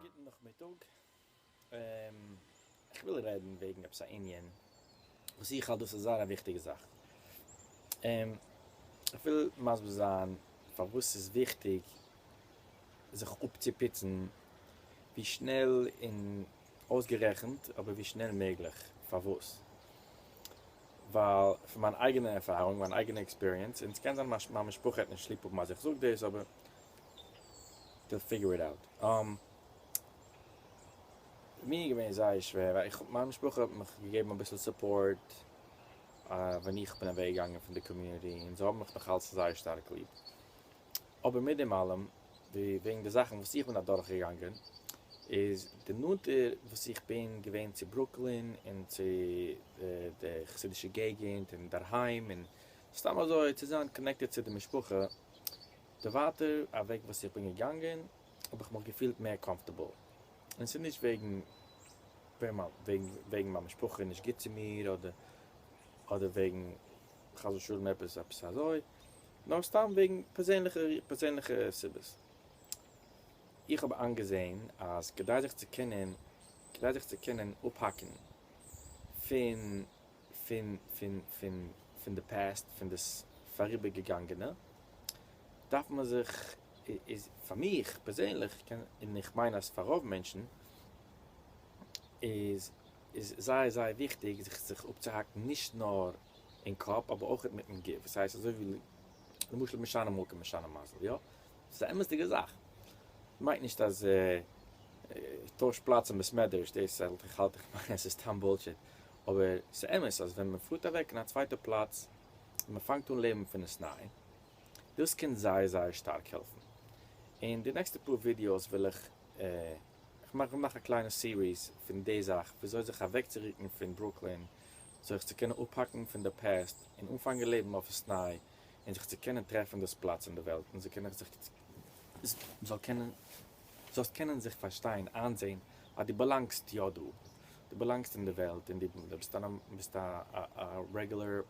גוטן נאכמיטאג, איך וויל רעדן וועגן עפעס א ענין וואס איך האלט דאס איז זייער א וויכטיגע זאך, איך וויל מסביר זיין פארוואס ס'איז וויכטיג זיך אפצופיצן ווי שנעל און אויסגערעכנט, אבער ווי שנעל מעגליך. פארוואס? ווייל פון מיין אייגענע ערפארונג, מיין אייגענע עקספיריענס, און ס'קען זיין מיין משפחה העט נישט ליב האבן אז איך זאג דאס, אבער וויל פיגור איט אוט. מיר איז געווען זייער שווער, ווייל איך האב, מיין משפחה האט מיך געגעבן אביסל סופארט ווען איך בין אוועק געגאנגען פון די קאמיוניטי, און זיי האבן מיך נאך אלץ זייער שטארק ליב. אבער מיט דעם אלעם, וועגן די זאכן וואס איך בין אדורכגעגאנגען, איז די נאנטער וואס איך בין געווען צו ברוקלין און צו די חסידישע געגענט און דערהיים און סתם אזוי צו זיין קאנעקטעד צו די משפחה, די ווייטער אוועק וואס איך בין געגאנגען האב איך מיך געפילט מער קאמפארטעבל. און ס'איז נישט וועגן וועגן מיין משפחה איז נישט גוט צו מיר אדער וועגן חס ושלום עפעס עפעס אזוי, נאר סתם וועגן פערזענליכע פערזענליכע סיבות. איך האב איינגעזען אז כדי זיך צו קענען כדי זיך צו קענען אפהאקן פון פון פון פון פון די פעסט פון דאס פאריבערגעגאנגענע דארף מען זיך איז פאר מיך פערזענליך און איך מיין אז פאר רוב מענטשן איז איז זייער זייער וויכטיג זיך זיך אפצוהאקן נישט נאר אין קאפ אבער אויכעט מיטן גוף וואס הייסט אזוי ווי למשל משנה מקום משנה מזל יא ס'איז א אמת'דיגע זאך מיינט נישט אז טויש פלאץ אין בעסמעדרעש דאס האלט איך האלט איך מיין אז ס'איז סתם בולשיט אבער ס'איז אמת אז ווען מען פארט אוועק אין א צווייטע פלאץ און מען פאנגט אן לעבן פון עסניי דאס קען זייער זייער שטארק העלפן אין די נעקסטע פאר ווידיאוס וויל איך. איך מיין כ'וועל מאכן א קליינע סיריס פון די זאך וויאזוי זיך אוועקצורוקן פון ברוקלין זיך צו קענען אפהאקן פון די פעסט און אנפאנגען לעבן אויף עסניי און זיך צו קענען טרעפן דאס פלאץ אין די וועלט און זיך קענען זאל קענען זאלסט קענען זיך פארשטיין איינזעהן אז דו באלאנגסט יא דא דו באלאנגסט אין די וועלט און דו ביסט א ביסט א רעגולער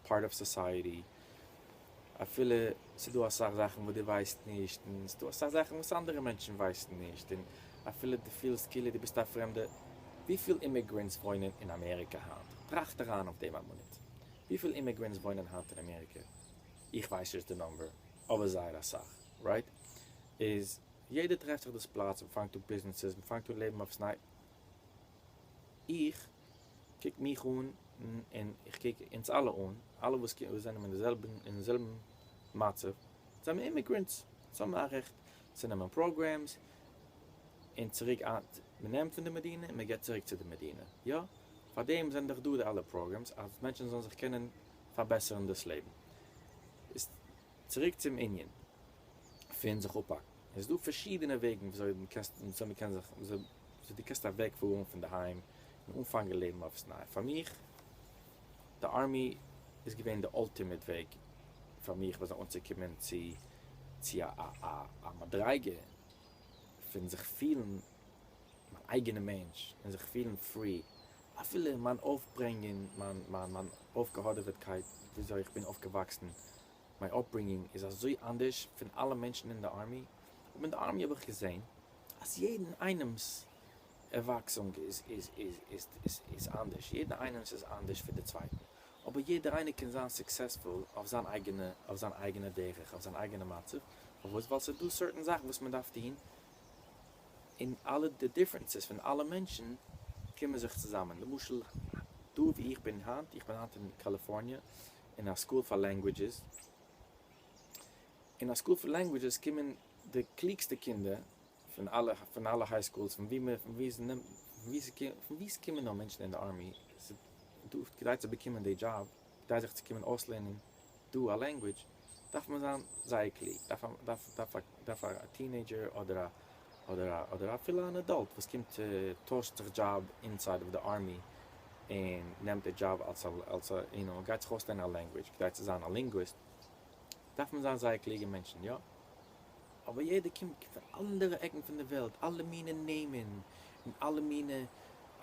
פארט אוו סאסייעטי, אפילו ס'דא אסאך זאכן וואס דו ווייסט נישט, און ס'דא אסאך זאכן וואס אנדערע מענטשן ווייסן נישט, און אפילו דו פילסט כאילו דו ביסט א פרעמדע. וויפיל אימיגרענטס וואוינען אין אמעריקע היינט? טראכט אריין אויף דעם א מינוט. וויפיל אימיגרענטס וואוינען היינט אין אמעריקע? איך ווייס נישט די נומבער, אבער זייער אסאך, רייט? איז יעדער טרעפט זיך דאס פלאץ, מ'פאנגט אן ביזנעסעס, מ'פאנגט אן לעבן אויף ס'ניי. איך. קוק מיך אן און איך קוק אונז אלע אן, אלע וואס זענען אין די זעלבן אין זעלבן מצב זעמיר אימיגרענטס, אונז האבן א רעכט צו נעמען פראגרעמס און צוריק מען נעמט פון די מדינה און מען געבט צוריק צו די מדינה, יא פאר דעם זענען דאך דא די אלע פראגרעמס אז מענטשן זאלן זיך קענען פארבעסערן דאס לעבן, איז צוריק צום ענין פון זיך אפהאקן. עס איז דא פארשידענע וועגן וויאזוי מען קען וויאזוי מען קען זיך וויאזוי וויאזוי דו קענסט אוועקפארן פון די היים און אנפאנגען לעבן אויף עפעס ניי פאר מיך די ארמי איז געווען די אלטימיט וועג פאר מיך וויאזוי אנצוקומען צו צו א א א א מדריגה פון זיך פילן מיין אייגענע מענטש און זיך פילן פרי אפילו מיין אויפברענגונג מיין מיין מיין אויפגעהאדעוועטקייט וויאזוי איך בין אויפגעוואקסן מיין אפברינגינג איז אזוי אנדערש פון אלע מענטשן אין די ארמי, אבער אין די ארמי האב איך געזען אז יעדן איינעמ'ס ערוואקסונג איז אנדערש, יעדער איינעמ'ס איז אנדערש פון די צווייטן, אבער יעדער איינער קען זיין סוקסעספול אויף זיין אייגענע אויף זיין אייגענע דרך, אויף זיין אייגענע מצב, פארוואס? ווייל ס'איז דא סערטען זאכן וואס מען דארף טון, און אלע די דיפרענסעס פון אלע מענטשן קומען זיך צוזאמען, למשל דא וואו איך בין היינט, איך בין היינט אין קאליפארניע, אין א סקול פאר לענגווידזשעס, אין א סקול פאר לענגווידזשעס קומען די קלוגסטע קינדער פון אלע פון אלע היי סקולס פון ווי מ'פון ווי ס'נעמט פון ווי ס'קומט פון ווי ס'קומען נאר מענטשן אין די ארמי ס'דא כדי צו באקומען די דזשאב כדי זיך צו קומען אויסלערנען דא א לענגווידזש דארף מען זיין זייער קלוג דארף דארף דארף דארף א טינעידזשער אדער א אדער א אדער אפילו אן עדאלט וואס קומט טוישט זיך דזשאב אינסייד אוו די ארמי און נעמט די דזשאב אלס א אלס א יו נאו גייט זיך אויסלערנען א לענגווידזש כדי צו זיין א לינגוויסט דארף מען זיין זייער קלוגע מענטשן יא אבער יעדער קומט פון אנדערע עקן פון די וועלט אלע מינע נעמען און אלע מינע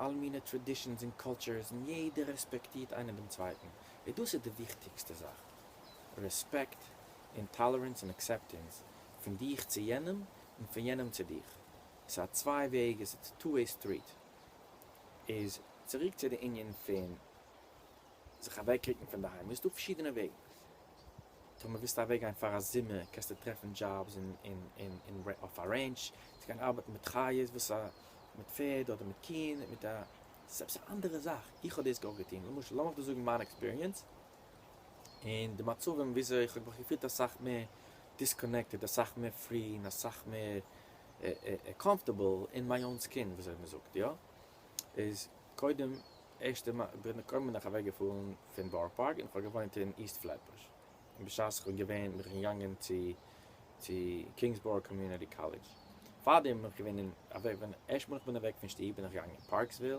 אלע מינע טרעדישענס און קולטשערס און יעדער רעספעקטירט איינער דעם צווייטן און דאס איז די וויכטיגסטע זאך רעספעקט און טאלערענס און עקסעפטענס פון דיך צו יענעם און פון יענעם צו דיך, עס איז א צוויי וועג, עס איז טו וועי סטריט. איז צוריק צו די ענין פון זיך אוועקרוקן פון דערהיים, איז דא פארשידענע וועגן, טאמער ווילסטו אוועק גיין פאר א זומער קענסטו טרעפן דזשאבס אין אויף א רענטש, צו גיין ארבעטן מיט חיות וואס א מיט פערד אדער מיט קיען מיט א, עס איז עפעס א אנדערע זאך, איך האב דאס גאר געטון, למשל לאמיך דא זאגן מיין עקספיריענס, און די מצבים וויאזוי איך האב מיך געפילט אסאך מער דיסקאנעקטעד אסאך מער פרי און אסאך מער קאמפארטעבל אין מיי אן סקין וויאזוי מען זאגט יא איז קודם ערשטע מאל בין קודם בין איך אוועק געפארן פון בארא פארק און איך האב געוואוינט אין איסט פלעטבוש און בשעת איך בין געווען בין איך געגאנגען צו צו קינגסבארא קאמיוניטי קאלעדזש פארדעם בין איך געווען אין אוועק ווען ערשטע מאל איך בין אוועק פון שטוב בין איך געגאנגען אין פארקסוויל.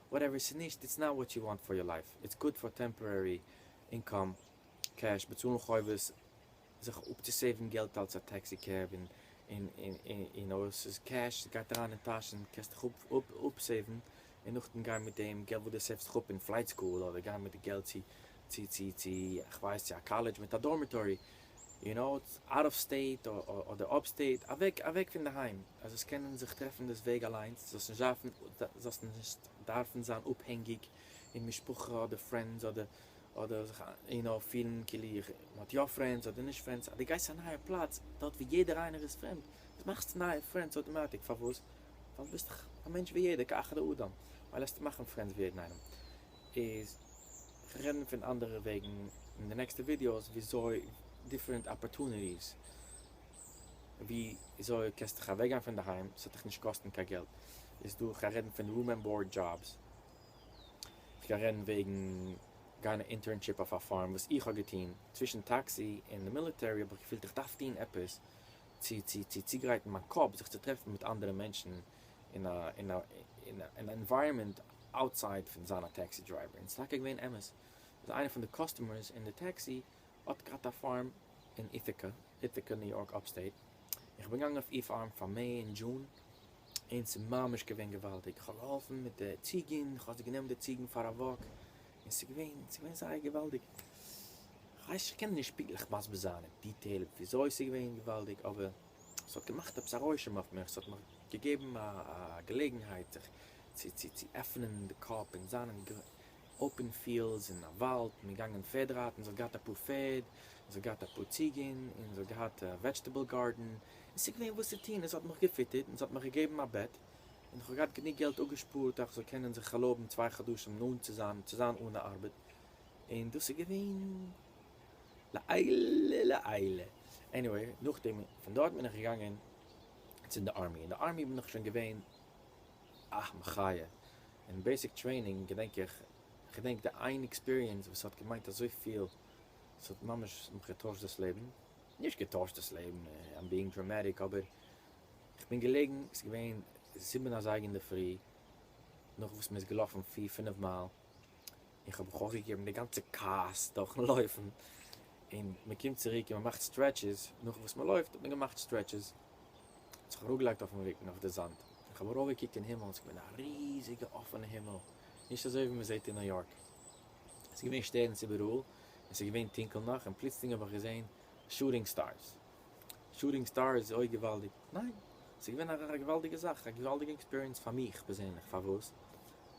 וואטעווער ס'איז נישט, איטס נאט וואט יו וואנט פאר יור לייף, איטס גוד פאר טעמפארערי אינקאם, קעש, באצאלן חובות, זיך אפצוסעיוון געלט אלס א טעקסי קעב, און יו נאו, ס'איז קעש, ס'גייט אריין אין טאש און קענסט דיך אפסעיוון, און נאכדעם גיין מיט דעם געלט וואס דו סעיוו'סט דיך אפ אין פלייט סקול, אדער גיין מיט די געלט צו, כ'ווייס, צו א קאלעדזש מיט א דארמיטארי, יו נאו איטס אוט אוו סטעיט אדער אפ סטעיט אוועק אוועק פון די היים אז זאלסט קענען זיך טרעפן דאס וועג אליינס זאלסט נישט דארפן זאלסט נישט דארפן זיין אפהענגיג אין משפחה אדער פרענדס אדער אדער זיך יו נאו פילן כאילו איך מען האט יא פרענדס אדער נישט פרענדס אז דו גייסט א נייע פלאץ דארט ווי יעדער איינער איז פרעמד דאס מאכסט נייע פרענדס אויטאמאטיק פארוואס ווייל דו ביסט דאך א מענטש ווי יעדער כאחד האדם ווייל עסטו מאכן פרענדס ווי יעדן איינעם איז איך וועל רעדן פון אנדערע וועגן אין די נעקסטע ווידיאוס וויאזוי דיפרענט אפערטוניטיס וויאזוי קענסט דיך אוועקגיין פון די היים ס'וועט דיך נישט קאסטן קיין געלט איז דא כ'גיי רעדן פון רום ענד באורד דזשאבס כ'גיי רעדן וועגן גיין א אינטערנשיפ אויף א פארם וואס איך האב געטון צווישן טעקסי און די מיליטערי האב איך געפילט איך דארף טון עפעס צו צו צוגרייטן מיין קאפ זיך צו טרעפן מיט אנדערע מענטשן. אין א אין א אין א ענווייראמענט אוטסייד פון זיין א טעקסי דרייווער און ס'איז טאקע געווען אמת אז איינער פון די קאסטומערס אין די טעקסי האט געהאט א פארם אין איטיקע, Ithaca, ניו יארק אפסטעיט, און כ'בין געגאנגען אויף איר פארם פאר מעי און דזשון און ס'איז ממש געווען געוואלדיג, כ'האב געהאלפן מיט די ציגן, כ'האב זיי גענומען די ציגן פאר א וואק און ס'איז געווען ס'איז געווען זייער געוואלדיג, כ'ווייס כ'קען נישט פונקטליך מסביר זיין אין דיטעיל וויאזוי ס'איז געווען געוואלדיג אבער. ס'האט געמאכט עפעס א רושם אויף מיך, ס'האט מיך געגעבן א געלעגנהייט זיך צו צו עפענען די קאפ און זיין אין אופען פיעלדס, אין א וואלד, מיר געגאנגען פערד רייטן, זי האט געהאט אפאר פערד, זי האט געהאט אפאר ציגען, און זי האט געהאט א וועדזשטעבל גארדען, און ס'איז געווען וואס צו טון, און זי האט מיך געפיטערט, און זי האט מיך געגעבן א בעט, און איך האב געהאט גענוג געלט אפגעשפארט אז איך זאל קענען זיך ערלויבן צוויי חדשים נאנט צו זיין צו זיין אן ארבעט, און דאס איז געווען. לעילא לעילא. עניוועי, נאכדעם פון דארט בין איך געגאנגען צו די ארמי, אין די ארמי בין איך שוין געווען א מחיה, אין בעיסיק טרעינינג געדענק איך, כ'געדענק די איין עקספיריענס וואס האט געמיינט אזויפיל, ס'האט ממש מיך געטוישט דאס לעבן, נישט געטוישט דאס לעבן, איים ביאינג דראמעטיק, אבער כ'בין געלעגן, ס'איז געווען זיבן אזייגער אינדערפרי, נאך וואס מ'איז געלאפן פיר פינעף מייל, איך האב מיך אויפגעגעבן די גאנצע קארס דורכן לויפן, און מען קומט צוריק און מען מאכט סטרעטשעס, נאך וואס מען לויפט האט מען געמאכט סטרעטשעס, האט זיך אראפגעלייגט אויפן רוקן אויף די זאמד, און איך האב ארויפגעקוקט אין הימל, עס איז געווען א ריזיגע אפענע הימל, נישט אזוי ווי מען זעט אין ניו יארק, עס איז געווען שטערנס איבעראל, און עס איז געווען טונקל נאך, און פלוצלינג האב איך געזען שוטינג סטארס, שוטינג סטארס, אוי געוואלדיג, ניין, עס איז געווען א געוואלדיגע זאך, א געוואלדיגע עקספיריענס פאר מיך פערזענליך, פארוואס?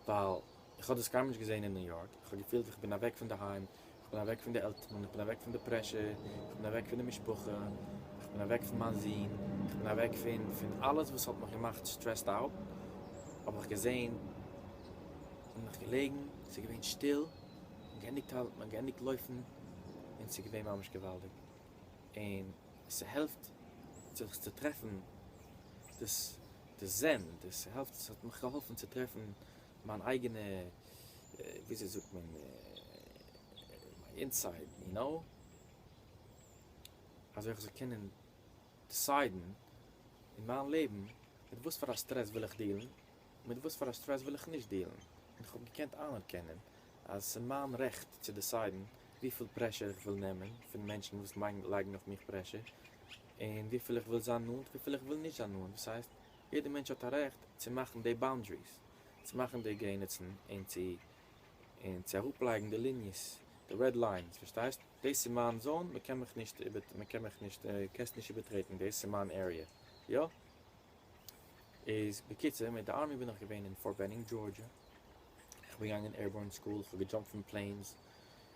ווייל איך האב דאס קיינמאל נישט געזעהן אין ניו יארק, איך האב געפילט איך בין אוועק פון די היים, איך בין אוועק פון די עלטערן, איך בין אוועק פון די פרעשור, איך בין אוועק פון די משפחה, איך בין אוועק פון מיין זון, איך בין אוועק פון פון אלעס וואס האט מיך געמאכט סטרעסד אוט, האב איך געזעהן און מיך געלעגן, ס'איז געווען שטיל, מ'האט געענדיגט האלטן, מ'האט געענדיגט לויפן, און ס'איז געווען ממש געוואלדיג, און ס'העלפט זיך צו טרעפן דאס דאס זען, דאס העלפט, ס'האט מיך געהאלפן צו טרעפן מיין אייגענע וויאזוי זאגט מען מיין אינסייד יו נאו אזוי איך זאל קענען דיסיידן אין מיין לעבן מיט וואס פאר א סטרעס וויל איך דילן און מיט וואס פאר א סטרעס וויל איך נישט דילן און איך האב געקענט איינערקענען אז עס איז מיין רעכט צו דיסיידן וויפיל פרעשור איך וויל נעמען פון מענטשן וואס לייגן אויף מיך פרעשור און וויפיל איך וויל זיין נאנט וויפיל איך וויל נישט זיין נאנט דאס הייסט יעדער מענטש האט א רעכט צו מאכן די באונדריס, צו מאכן די גרעניצן און צו און צו אראפלייגן די ליניעס, די רעד ליינס, פארשטייסט? דאס איז מיין זאון, מען קען מיך נישט איבער מען קען מיך נישט קענסט נישט איבערטרעטן דאס איז מיין עריע, יא? איז בקיצור מיט די ארמי בין איך געווען אין פארט בענינג דזשארדזשע, איך בין געגאנגען עירבארן סקול, איך האב געדזשאמפט פון פלעינס,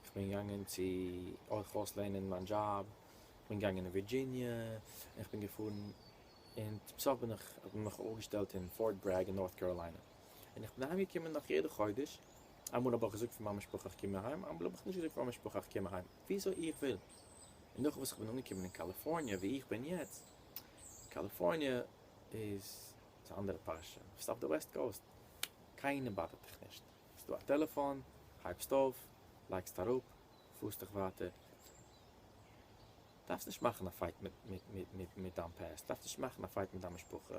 איך בין געגאנגען צו אויך אויסלערנען מיין דזשאב, איך בין געגאנגען אין ווירדזשיניע, איך בין געפארן און צום סוף בין איך האט מען מיך אויפגעשטעלט אין פארט ברעג אין נארט קאראליינע, און איך בין אהיים געקומען נאך יעדע חודש, אמאל האב איך געזאגט פאר מיין משפחה איך קום אהיים, אמאל האב איך נישט געזאגט פאר מיין משפחה איך קום אהיים, וויאזוי איך וויל, און נאך וואס איך בין אנגעקומען אין קאליפארניע ווי איך בין יעצט, קאליפארניע איז א אנדערע פרשה, ביסט אויף די וועסט קאוסט, קיינער באדערט דיך נישט, ס'איז דא א טעלעפאן, הייבסט אויף, לייגסט אראפ, פארסט דיך ווייטער. דארפסט נישט מאכן א פייט מיט דיין פעסט, דארפסט נישט מאכן א פייט מיט דיין משפחה,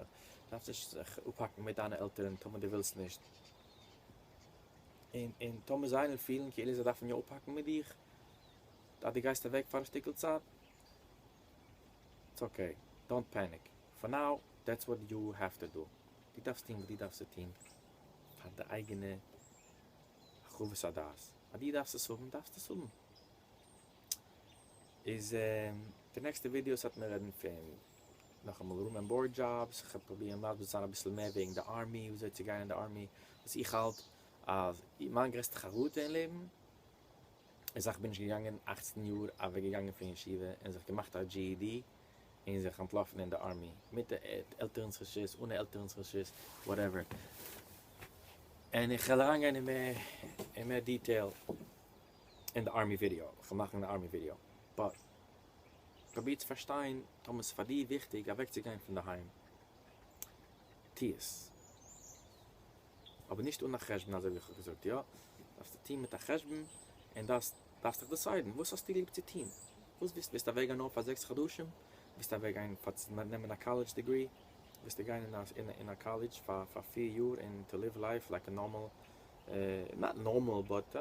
דארפסט נישט זיך אפהאקן מיט דיינע עלטערן טאמער דו ווילסט נישט, און און טאמער זיי וועלן פילן כאילו זיי דארפן יא אפהאקן מיט דיך אז דו גייסט אוועק פאר א שטיקל צייט, איטס אקעי, דאנט פעניק, פאר נאו דעטס וואט יו העוו טו דו, דו דארפסט טון וואס דו דארפסט צו טון פאר די אייגענע הרחבת הדעת, אז דו דארפסט עס האבן דארפסטו עס האבן, איז די נעקסטע ווידיאוס האט מיר רעדן פון נאכאמאל רום ענד באורד דזשאבס, כ'וועל פרובירן מסביר צו זיין אביסל מער וועגן די ארמי, ווי אזוי צו גיין אין די ארמי, וואס איך האלט אז מיין גרעסטע חרטה אין לעבן איז אז כ'בין נישט געגאנגען אַכצן יאר אוועק געגאנגען פון ישיבה און זיך געמאכט א GED און זיך אנטלאפן אין די ארמי, מיט עלטערנס רשות, אנע עלטערנס רשות, וואטעווער. און איך וועל אריינגיין אין מער אין מער דיטעיל אין די ארמי ווידעא, איך וויל מאכן די ארמי ווידעא, באט פרוביר צו פארשטיין, טאמער ס'איז פאר דיר וויכטיג אוועק צו גיין פון די היים, טו עס, אבער נישט אן א חשבון אזוי ווי איך האב געזאגט, יא, דארפסטו טון מיט א חשבון, און דארפסט דיך דיסיידן וואס האסטו ליב צו טון, וואס ווילסטו, ווילסטו אוועק גיין נאר פאר זעקס חדשים, ווילסטו אוועק גיין פאר צו נעמען א קאלעדזש דעגרי, ווילסטו גיין אין א קאלעדזש פאר פאר פיר יאר און טו ליוו לייף לייק א נארמאל נאט נארמאל באט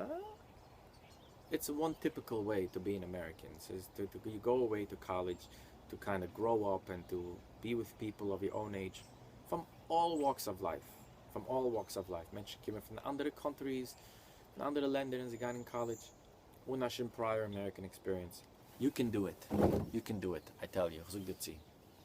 איטס וואן טיפיקעל וועי טו בי אין אמעריקען סאיז טו טו יו גאו אוועי טו קאלידזש טו קיינע גראו אפ ענד טו בי וויט פיפעל אוו יור און עידזש פאם אלל וואקס אוו לייף פאם אלל וואקס אוו לייף מענטשן קומען פון אנדערע קאנטריס פון אנדערע לענדער און זיי גייען אין קאלידזש אן א שום פרייער אמעריקען עקספיריענס יו קען דא איט יו קען דא איט איי טעל יו איך זאג דיר צו